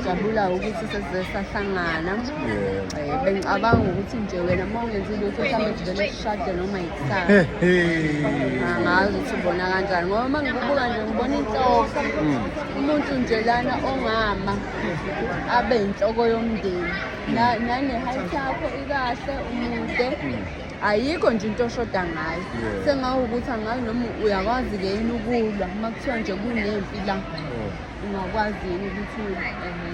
jabula ukuthi sesize sahlangana eh, bengicabanga ukuthi nje wena uma ungenzi lutho mhlawumbe kuvele kushade noma yikusasa angazi ukuthi ubona kanjani ngoba uma ngikubuka nje ngibona inhloko hmm. umuntu nje lana ongama abe yinhloko yomndeni hmm. nane-height yakho ikahle umude hmm. ayikho nje into oshoda ngayo sengawukuthi angazi noma uyakwazi-ke yini ukulwa uma kuthiwa nje kunempi la oh. Ungakwazi yini ukuthi ehe.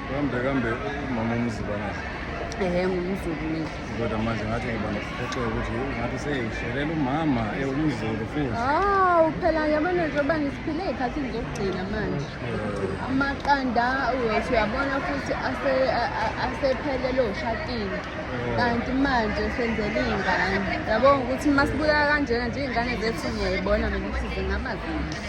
Kambe kambe umama umziba nazo. Ehe ngumzulu mina. Kodwa manje ngathi ngiba nokuphoxeka ukuthi ngathi seyishelela umama ewumzulu futhi. Ah, uphela yabona njengoba ngisiphile ikhathi ngizokugcina manje. Amaqanda uyothi uyabona futhi ase a- a- asephelele oshakile. Kanti manje senzele iy'ngane. Yabona ukuthi uma sibukeka kanjena nje iy'ngane zethu ngiyayibona mina ukuthi zingaba zinhle.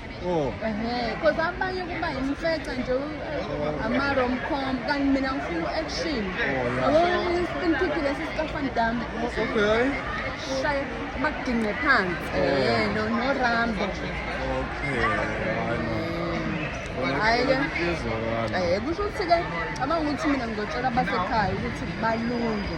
Oh. Ehhe, because abanye kuba yimfeca nje u- ama rom com kanti mina ngifuna u-action. Oh, Yabo i-spin kick lesi sikaFan Damme. Okay. Shaye bakudinge phansi. Eh, no no Rambo. Okay. Hayi ke. Izwakala. Eh, kusho ukuthi ke abanga ukuthi mina ngizotshela abasekhaya ukuthi balunge.